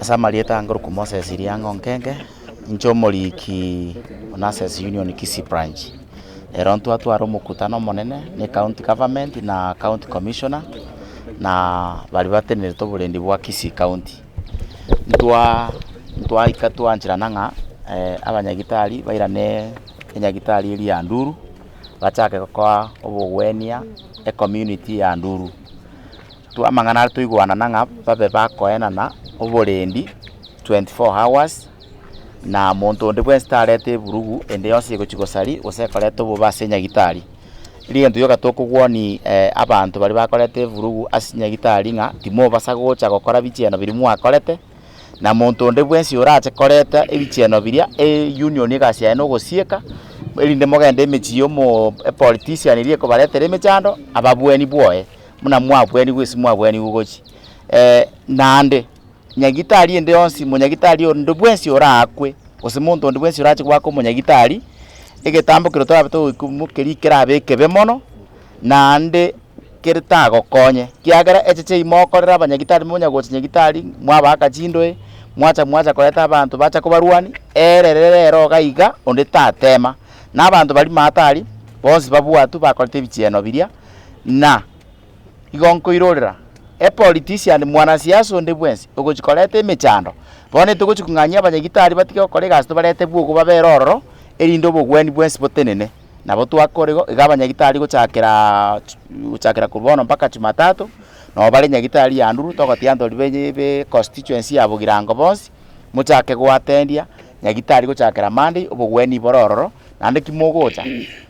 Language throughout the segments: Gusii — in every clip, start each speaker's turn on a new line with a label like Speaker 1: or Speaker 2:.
Speaker 1: Ase amarieta ange Luke Moses Iriang'o Nkenge, inche omoriki o Nurses Union Kisii Branch. Ero ntwatwara omokutano omonene na ecounty government na county commissioner na baria batenerete oborendi bwa Kisii county. Ntwa ntwaika twancherana ng'a abanyagitari bairane enyagitari eria ya Nduru bachake gokoa obogwenia ecommunity ya Nduru. Twa amang'ana aria toigwanana ng'a babe bakoenana oborendi 24 hours, na monto onde bwensi tarete eburugu ende yonsi egochia gosari gose ekoreta obobe ase nyagitari. Riria egento gioka tokogwonia abanto baria bakoreta eburugu ase chinyagitari ng'a timobasa gocha gokora bichieno biria mwakorete, na monto onde bwensi orache koreta ebichieno biria eunion egasi yaye nogosieka erinde mogende emechie ya omo epolitician eria ekobaretera emechando ababweni bwoye. buna mwabwenigwe ase mwabwenigwe gochia eh, naende nyagitari ende yonsi, monyagitari onde bwensi oraakwe, gose monto onde bwensi orache koba ake omonyagitari, egetambo keria torabe togoika mokerie kerabe ekebe mono, naende kere tagokonye, ekiagera eche chiayi mokorera abanyagitari monya gocha nyagitari, mwabaaka chindoe, mwacha mwacha koreta abanto bacha kobarwani, ere rere ero iga iga onde tatema. Na abanto baria matari, bonsi babwatwe bakorete ebichieno biria. na igo nkoirorera epolitician mwanasiasa onde bwensi ogochi koreta emechando, bono togochi kong'anyia abanyagitari batige gokora egasi tobarete bwogo babere ororo, erinde obogweni bwensi botenene. Nabo twakora igo, iga abanyagitari gochakera chi gochakera korwa bono mpaka jumatatu, nabo bare nyagitari ya nduru, togotiga ntori benye be constituency ya bogirango bonsi, mochake goatendia nyagitari gochakera monday, obogweni bore ororo, naende ki mogocha.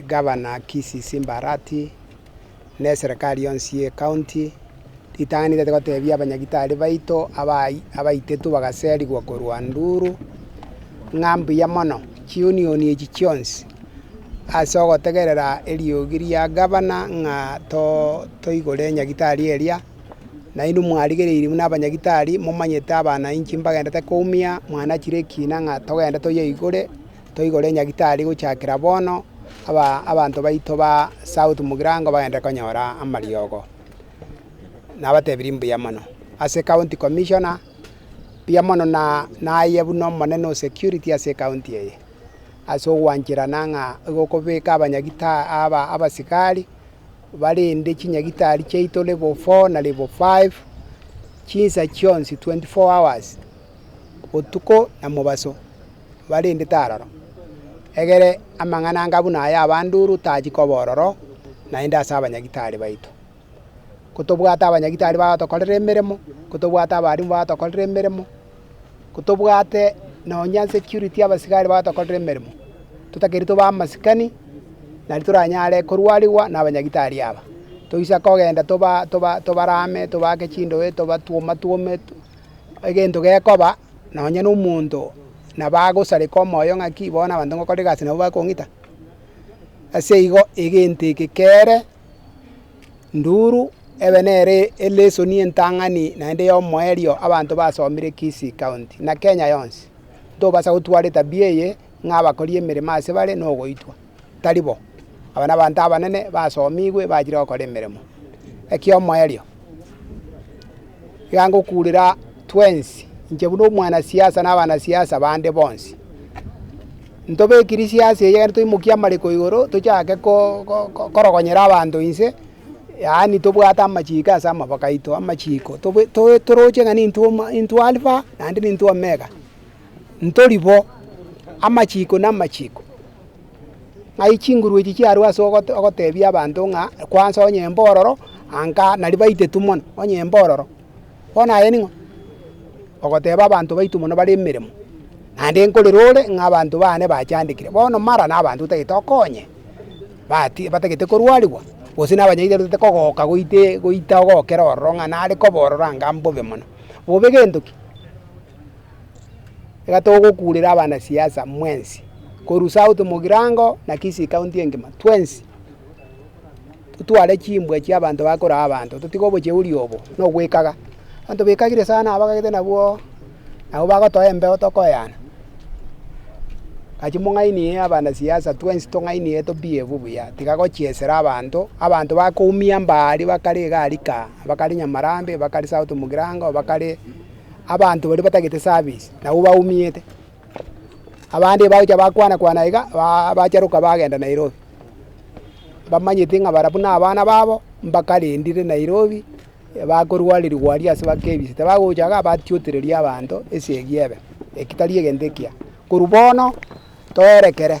Speaker 2: Egavana Kissi Simba Arati, na eserekari yonsi y'ecounty, ritang'ani riaito gotebia abanyagitari baito abayi abaitetwe bagaserigwa korwa Nduru, ng'a mbuya mono chiunioni echi chionsi ase ogotegerera eriogi ria gavana ng'a too toigore nyagitari eria, nainwe mwarigereiri buna abanyagitari momanyete abanainchi mbagendete koumia, mwanachire ekina ng'a togende toyeigure. toigore enyagitari gochakera bono, aba abanto baito ba south mogirango bagende konyora amariogo. Nabatebirie mbuya mono. Ase county commissioner, mbuya mono na naye buna omonene o security ase ekaunti eye, ase ogwancherana ng'a igo okobeka abanyagita aba abasikari barinde chinyagitari chiaito level four na level five, chinsa chionsi twenty four hours, botuko na mobaso. barendete aroro. Egere amang'ana anga buna aya abanduru tachia koba ororo naende ase abanyagitari baito. Kotobwate abanyagitari bagotokorera emeremo, kotobwate abalimu bagotokorera emeremo, kotobwate nonya security abasigari bagotokorera emeremo, totakeire tobe amasikani naende toranyare korwarigwa na abanyagitari aba. Toisa kogenda toba toba tobarame, tobake chindoe, tobatwomatwome. Egento gekoba nonye nomonto nabo agosareka omoyo ng'aki bono abanto ngokora egasi nabo bakong'ita, ase igo egento eke kere nduru ebe nere elesoni entang'ani naende ya omoerio abanto basomire Kisii county na Kenya yonsi. Ntobasa gotwara etabia eye. ng'a abakori emeremo ase bare nogoitwa. Tari bo. Aba nabanto abanene basomigwe bachire gokora emeremo. Ekia omoerio, iga ngokurera twensi, inche buna omwanasiasa na abanasiasa bande bonsi, ntobekiri siasa eye egere toimokie amareko igoro tochake ko ko korogonyera abanto inse, yaani tobwate amachiko ase amaboko aito, amachiko tobe toroche ng'a nintwe intwe Alpha naende nintwe Omega. ntori bo, amachiiko namachiiko, ng'ai chinguru echi chiarue ase ogote ogotebia abanto ng'a kwanza onyembe ororo anga nari baitetu mono onyembe ororo. Bono aye ning'o? Ogoteba abanto baitu mono bare emeremo, naende nkorera ore ng'a abanto bane bachandekire. Bono mara na abanto otagete okonye, bati batagete korwariwa, gose na abanyaigwa batagete kogoka goitee goita ogokera ororo ng'a nare koba ororo anga mbobe mono. Bobe gento ki? iga togokuurera abanasiasa mwensi korusa out mogirango na Kisii county engima twensi totware chimbwa chia abanto bakoraa abanto totige obocheuri obo na ogwekaga. Abanto bekagire sana abagagete nabwo nabo bagotoa embeo tokoyana. Naki mong'ainie abanasiasa twensi tong'ainie to behave buya tiga gochiesera abanto, abanto bakoumia mbaaaria bakare iga arika bakare Nyamarambe bakare south mogirango bakare. abanto baria batagete service nabo baumiete, abande bagocha bakwana kwana iga baa bacharoka bagenda Nairobi, bamanyeti ng'a barabwo na abana babo mbakarendire Nairobi bakorwarerigwa aria ase ba KBC tabagocha iga batiotereria abanto esegi ebe, eki tari egento ekiya, korwa bono toerekere.